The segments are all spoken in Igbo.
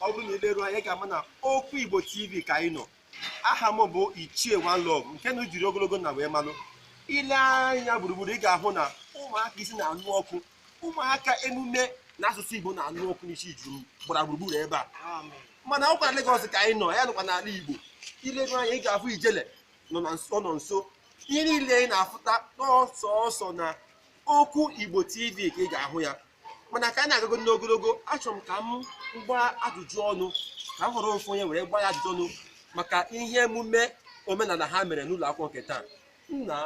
ọ bụrụ na ị leruo anya ị ga-ama na okwu igbo tv ka anyị nọ aha m bụ ichie One Love nke unu jiri ogologo na wee malụ ile anya gburugburu ị ga-ahụ na ụmụaka isi na-anụ ọkụ ụmụaka emume na asụsụ igbo na-anụ ọkụ n'isi juru gbara gburugburu ebe a mana ọ kwa na Lagos ka anyị nọ anyị anọkwa n'ala Igbo ileru anya ị ga-afụ ijele nọ na nso nọ nso ihe niile ị na-afụ taa na ọ sọsọ na okwu Igbo TV ka ị ga-ahụ ya mana ka anyị na-agago n'ogologo achọrọ m ka m gbaa ajụjụ ọnụ ka m họrọ ofu onye were gbaa ya ajụjụ ọnụ maka ihe emume omenala ha mere n'ụlọ akwụkwọ nke taa nna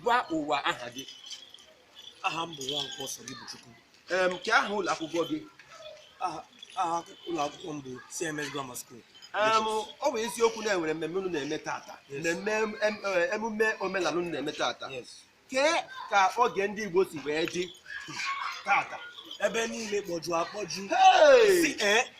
gwa ụwa aha gị aha m bụ Nwankwo Sodibuchukwu em kee aha ụlọ akwụkwọ gị aha aha ụlọ akwụkwọ m bụ CMS Grammar School Em, ọ bụ eziokwu na enwere mmemme unu na-eme tata Yes. mmemme em- em- eh, emume omenala unu na-eme tata yes kee ka oge ndị Igbo si wee dị tata ebe niile kpọjuru akpọju Hey! si ee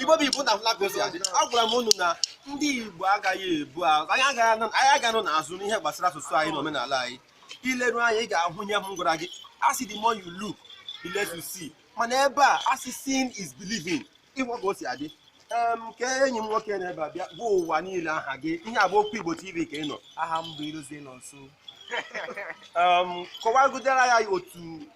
igbo bụ igbo na Lagos adị agwara m unu na ndị igbo agaghị ebu ahụ anyị agaghị anọ n'azụ n'ihe gbasara asụsụ anyị na omenala anyị ileru anya ị ga-ahụ ihe m gwara gị asị the more you look the less you see mana ebe a asị seeing is believing ịhụ ka o si adị nke enyi m nwoke nọ ebe a bịa gwa ụwa niile aha gị ihe a bụ okwu igbo tv ka ị nọ aha m bụ ilozie nọnso kọwagidere ya otu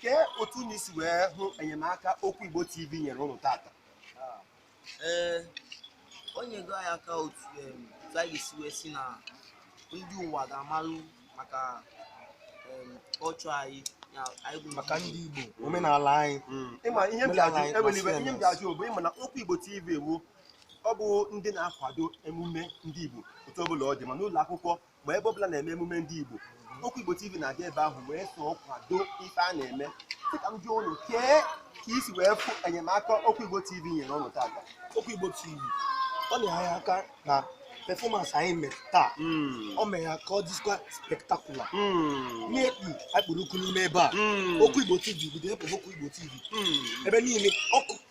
kee otu unu si wee hụ enyemaka okwu igbo tv nyere ụnụ tata ee o nyego anyị aka otu em, otu anyị ga-esi wee si na ndị ụwa ga-amalụ maka em, kọlchọ anyị ya anyị bụ maka ndị Igbo omenala anyị ịma ihe m ji ajụ Omenala enwere ibe anyị ihe m ji ajụ bụ ịma na okwu igbo tv ewu ọ bụ ndị na-akwado emume ndị igbo otu ọbụla ọ dị ma n'ụlọ akwụkwọ ma ebe ọbụla na-eme emume ndị Igbo okwu Igbo TV na-aga ebe ahụ wee soo kwado ife a na-eme dịka m jụọ ụnụ kee ka isi wee fụ enyemaka okwu Igbo TV nyere ụnụ tata okwu Igbo TV o nyere anyị aka na performance anyị mere taa hmm. ọ mere ya ka ọ dịkwa spectacular hmm. n'ekpu akpụrụkụ n'ime ebe a hmm. okwu Igbo TV bido epụ okwu Igbo TV ebe niile ọkụ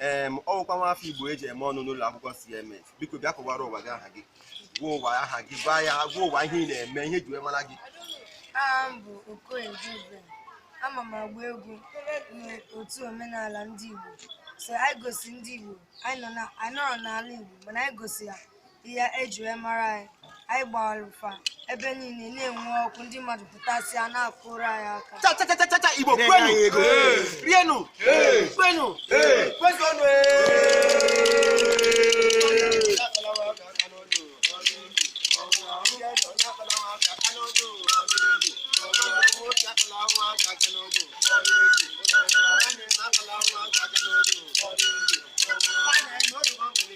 ee ọ bụkwa nwa afọ igbo eji eme ọnụ n'ụlọ akwụkwọ CMS biko bịa kọwara ụwa gị aha gị gwa ụwa aha gị gwa ya gwa ụwa ihe ị na-eme ihe ji wee mara gị aha m bụ okoye Dubem ama m agba egwu n'otu omenala ndị igbo so anyị gosi ndị igbo anyị anọrọ n'ala igbo mana anyị gosi ya ihe eji wee mara anyị anyị gbara ụfa ebe niile na-enwe ọkụ ndị mmadụ pụtasịa na-akụrụ anyị aka cha cha cha cha cha Igbo kwenu rienu kwenu kwezuonu Thank you.